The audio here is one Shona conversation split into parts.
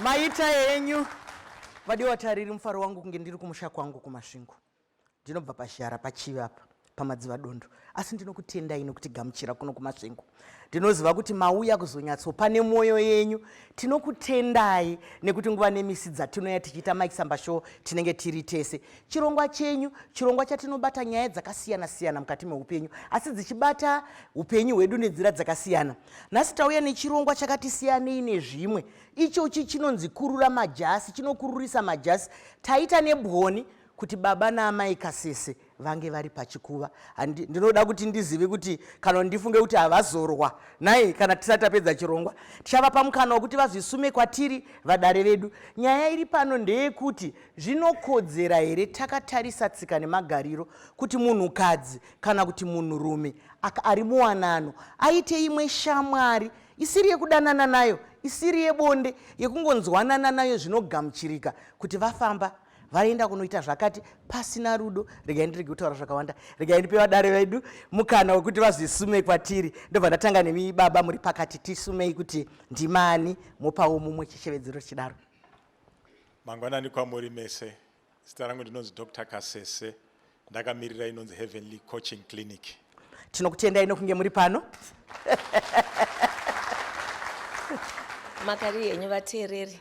maita enyu vadiwa tariri mufaro wangu kunge ndiri kumusha kwangu kumasvingo ndinobva pashara pachivi apa pamadziva dondo asi ndinokutendai nokuti gamuchira kuno kumasvingo ndinoziva kuti mauya kuzonyatsopa nemwoyo yenyu tinokutendai nekuti nguva nemisi dzatinoya tichiita maisamba show tinenge tiri tese chirongwa chenyu chirongwa chatinobata nyaya dzakasiyana siyana mukati meupenyu asi dzichibata upenyu hwedu nenzira dzakasiyana nhasi tauya nechirongwa chakati siyanei nezvimwe ichochi chinonzi kurura majasi chinokururisa majasi taita nebwoni kuti baba naamai kasese vange vari pachikuva ndinoda kuti ndizive kuti kana ndifunge kuti havazorwa nai kana tisati tapedza chirongwa tichavapa mukana wekuti vazvisume kwatiri vadare vedu nyaya iri pano ndeyekuti zvinokodzera here takatarisa tsika nemagariro kuti munhukadzi kana kuti munhurume ari muwanano aite imwe shamwari isiri yekudanana nayo isiri yebonde yekungonzwanana nayo zvinogamuchirika kuti vafamba vaenda kunoita zvakati pasina rudo regai ndirege kutaura zvakawanda regai ndipe vadare vedu mukana wekuti vazvisume kwatiri ndobva ndatanga nemi baba muri pakati tisumei kuti ndimani mopawo mumwe chishevedzero chidaro mangwanani kwamuri mese Zita rangu ndinonzi Dr Kasese ndakamirira inonzi Heavenly Coaching Clinic. Tinokutendai nokunge muri pano. Makari henyu vateereri.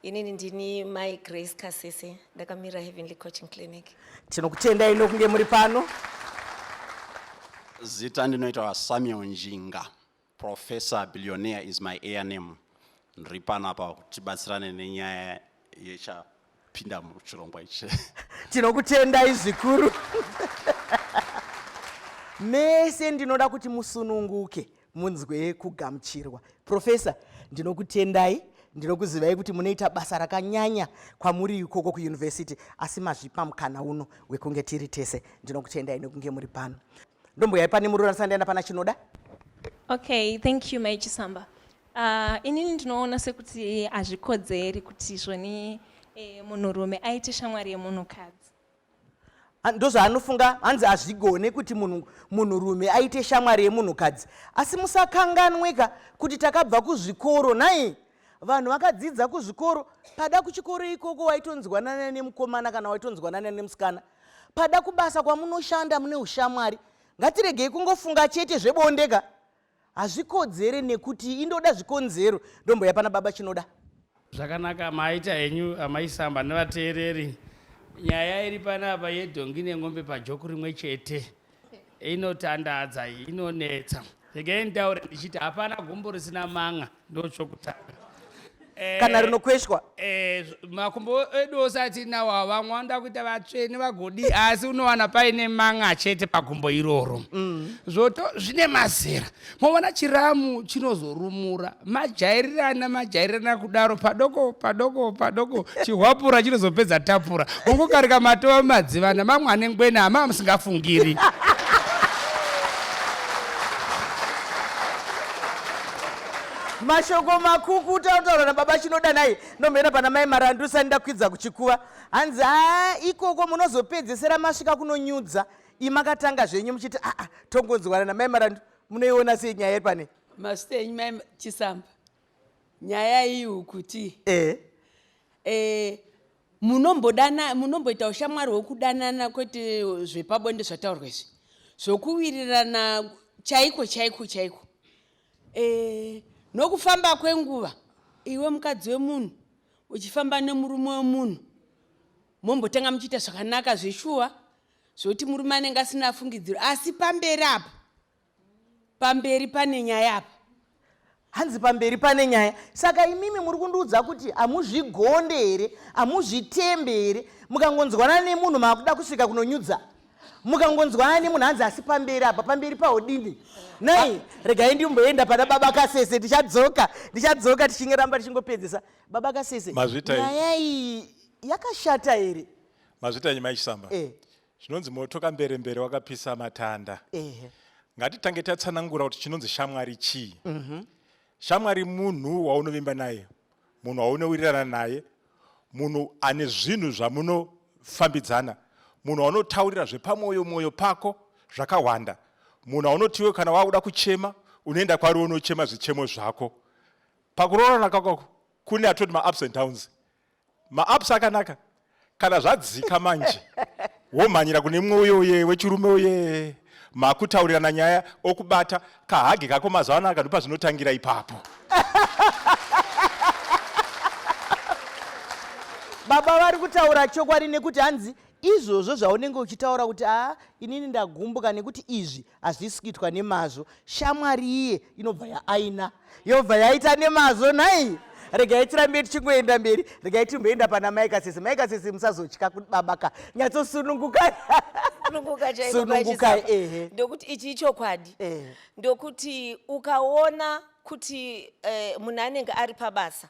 Inini ndini Mai Grace Kasese ndakamirira Heavenly Coaching Clinic. Tinokutendai nokunge muri pano. Zita ndinoita Samuel Njinga. Professor Billionaire is my air name. Ndiri pano apa tibatsirane nenyaya yechapinda muchirongwa ichi. Tinokutendai zvikuru. Mese ndinoda kuti musununguke munzwe kugamuchirwa. Professor, ndinokutendai ndinokuzivai kuti munoita basa rakanyanya kwamuri ikoko kuyunivhesiti asi mazvipa mukana uno wekunge tiri tese ndinokutendai nekunge muri pano ndombuyai pane murura ndisati ndaenda pana chinoda okay thank you mai chisamba uh, inini ndinoona sekuti hazvikodzeri kuti zvoni eh, munhurume aite shamwari yemunhukadzi Ah, ndozvaanofunga hanzi hazvigone kuti munhu- munhurume aite shamwari yemunhukadzi asi musakanganweka kuti takabva kuzvikoro nhai vanhu vakadzidza kuzvikoro pada kuchikoro ikoko waitonzwanana nemukomana kana waitonzwanana nemusikana pada kubasa kwamunoshanda mune ushamwari ngatiregei kungofunga chete zvebondeka hazvikodzere nekuti indoda zvikonzero ndomboya pana baba chinoda zvakanaka maita henyu amaisamba nevateereri nyaya iri panapa yedhongi nen'ombe pajoko rimwe chete inotandadza iyi inonetsa regai nditaure ndichiti hapana gumbo risina manga ndochokutanga eh, kana rinokweshwa eh, makumbo edu ose atinawo avamwe vanoda kuita vatsvene vagodi asi unowana paine manga chete pagumbo iroro mm. zvoto zvine mazera moona chiramu chinozorumura majairirana majairirana kudaro padoko padoko padoko chihwapura chinozopedza tapura ungokarika matova mumadzivana mamwe ane ngwena amava musingafungiri mashoko makuku utautaura nababa chinodanai nomhera pana mai marandusa ndakwidza kuchikuva hanzi a ikoko munozopedzesera masvika kunonyudza iyi makatanga zvenyu muchiti aa ah, ah, tongonzwana namai marandu munoiona sei nyaya iri pane mazita enyu mai chisamba nyaya iyi ukuti e e munombodana munomboita ushamwari hwekudanana kwete zvepabonde zvataurwa izvi zvokuwirirana chaiko chaiko chaiko e nokufamba kwenguva iwe mukadzi wemunhu uchifamba nemurume wemunhu mombotanga muchiita zvakanaka zveshuwa zvoti murume anenge asina fungidziro asi pamberi apa pamberi pane nyaya apa hanzi pamberi pane nyaya saka imimi muri kundiudza kuti hamuzvigonde here hamuzvitembe here mukangonzwanana nemunhu maakuda kusvika kunonyudza mukangonzwanana nemunhu hanzi asi pamberi apa pamberi paodini nai regai ndimboenda pana baba kasese tichadzoka ndichadzoka tichinge ramba tichingopedzisa baba kasese nyaya iyi yakashata here mazvitanyi maichisamba eh. zvinonzi moto kambere mbere wakapisa matanda eh. ngatitange tatsanangura kuti chinonzi shamwari chii mm -hmm. shamwari munhu waunovimba naye munhu waunowirirana naye munhu ane zvinhu zvamunofambidzana munhu waunotaurira zvepamwoyo mwoyo pako zvakawanda munhu aunotiwe kana wakuda kuchema unoenda kwari unochema zvichemo zvako pakuroorana kakako kune atoti maups and downs Maaps akanaka kana zvadzika manje womhanyira kune mumwe uyo uye wechirume uye makutaurirana nyaya okubata kahage kako mazuva ano akandipa zvinotangira ipapo baba vari kutaura chokwadi nekuti hanzi izvozvo zvaunenge uchitaura kuti aa inini ndagumbuka nekuti izvi hazvisi kuitwa nemazvo shamwari iye inobva yaaina yobva yaita nemazvo nhai regai tirambe tichingoenda mberi regai timboenda pana mai kasisi mai kasisi musazotya kuti baba ka nyatsosunungukai sunungukai ehe ndokuti ichi ichokwadi ndokuti ukaona kuti eh, munhu anenge ari pabasa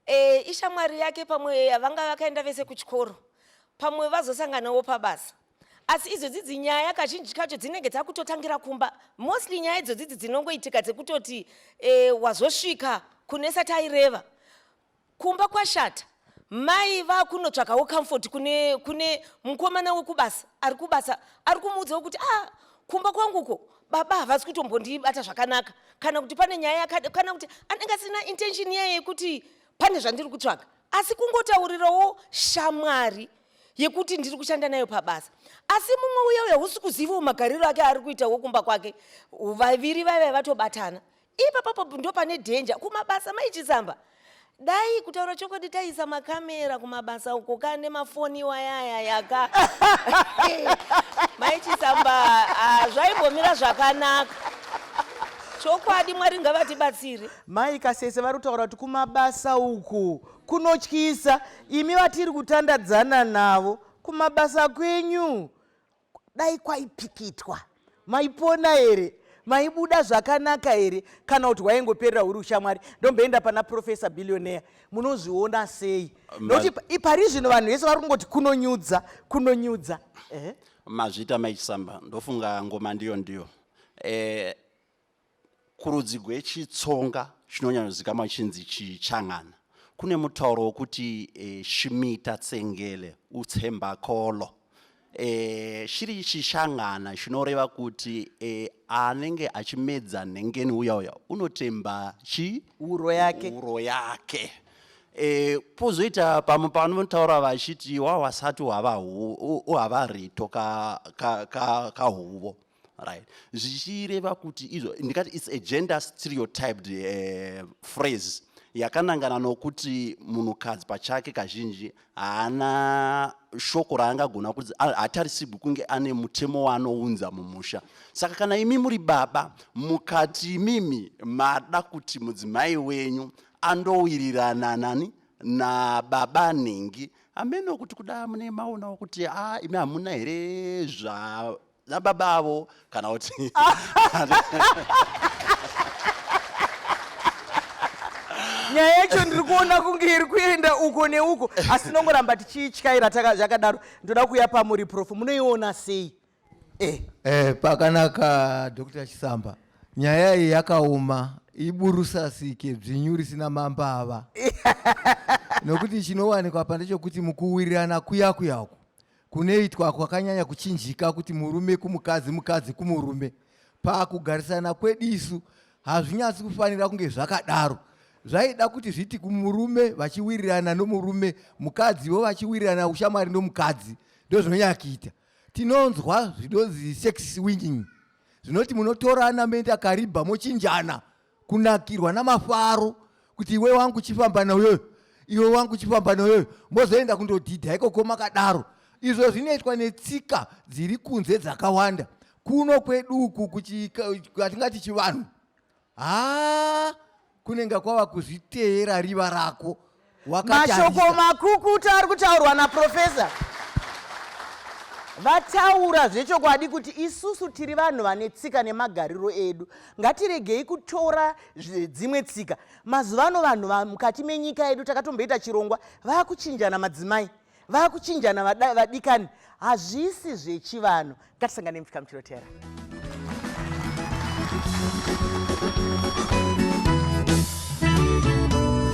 E, ishamwari yake pamwe vanga vakaenda vese kuchikoro pamwe vazosanganawo pabasa asi idzodzi dzinyaya kazhinji kacho dzinenge dzakutotangira kumba mostly nyaya idzodzi dzi dzinongoitika dzekutoti e, wazosvika kunesa taireva kumba kwashata mai vakunotsvakawo comfort kune, kune mukomana wekubasa ari kubasa ari kumuudzawo kuti ah kumba kwanguko baba havasi kutombondibata zvakanaka kana kuti pane nyaya yakada kana kuti anenge asina intention iya yekuti pane zvandiri kutsvaga asi kungotaurirawo shamwari yekuti ndiri kushanda nayo pabasa asi mumwe uya uya husi kuzivawo magariro ake ari kuita wokumba kwake vaviri vaiva vatobatana ipapapo ndo pane dhenja kumabasa maichitsamba dai kutaura chokwadi taisa makamera kumabasa uko ka nemafoni iwayaya yaka maichitsamba ah, zvaimbomira zvakanaka chokwadi mwari ngavatibatsire mai kasese vari kutaura kuti kumabasa uku kunotyisa imi vatiri kutandadzana navo kumabasa kwenyu dai kwaipikitwa maipona here maibuda zvakanaka here kana kuti waingoperera huri ushamwari ndomboenda pana profesa billionaire munozviona sei nokuti ipari zvino vanhu vese vari kungoti kunonyudza kunonyudza eh? mazvita maichisamba ndofunga ngoma ndiyo ndiyo eh, Kurudzi gwechitsonga chinonyanyozikamwa chinzi chichangana kune mutauro wokuti e, shimita tsengele utsembakolo e, eh, shiri chichangana chinoreva kuti e, anenge achimedza nhengeni uya uya unotemba chi uro yake, uro yake. E, pozoita pamwe pavanotaura vachiti wawasati uhava rito kahuvo ka, ka, ka right zvichireva kuti izvo ndikati its a gender stereotyped uh, phrase yakanangana nokuti munhukadzi pachake kazhinji haana shoko raangagona kuti hatarisirwi kunge ane mutemo waanounza mumusha saka kana imi muri baba mukati imimi mada kuti mudzimai wenyu andowirirana nani nababa nhingi hameno kuti kuda mune maonawo kuti a ah, imi hamuna here zva nababa avo kana kuti nyaya yacho ndiri kuona kunge iri kuenda uko neuko asi tinongoramba tichiityaira zvakadaro ndoda kuuya pamuri prof munoiona sei eh. Eh, pakanaka dr chisamba nyaya iyi yakaoma iburusasike dzvinyu risina mambava nokuti chinowanikwa pa ndechokuti mukuwirirana kuyakuyaku Kunoitwa kwakanyanya kuchinjika kuti murume kumukadzi, mukadzi kumurume. Pakugarisana kwedu isu hazvinyatsi kufanira kunge zvakadaro. Zvaida kuti zviti kumurume vachiwirirana nomurume, mukadziwo vachiwirirana ushamwari nomukadzi. Ndozvinonyanya kuita. Tinonzwa zvinonzi sex swinging zvinoti munotorana moenda kariba mochinjana kunakirwa namafaro kuti iwe wangu chifamba neuyoyo iwe wangu chifamba neuyoyo mozoenda kundodhidha ikoko makadaro izvo zvinoitwa netsika dziri kunze dzakawanda kuno kwedu uku kwatingati chivanhu haa kunenge kwava kuzviteera riva rako mashoko makukutu ari kutaurwa naprofesa vataura zvechokwadi kuti isusu tiri vanhu vane tsika nemagariro edu ngatiregei kutora dzimwe tsika mazuva ano vanhu mukati menyika yedu takatomboita chirongwa vakuchinjana madzimai vakuchinjana vadikani hazvisi zvechivanhu ngatisangane mupika muchirotera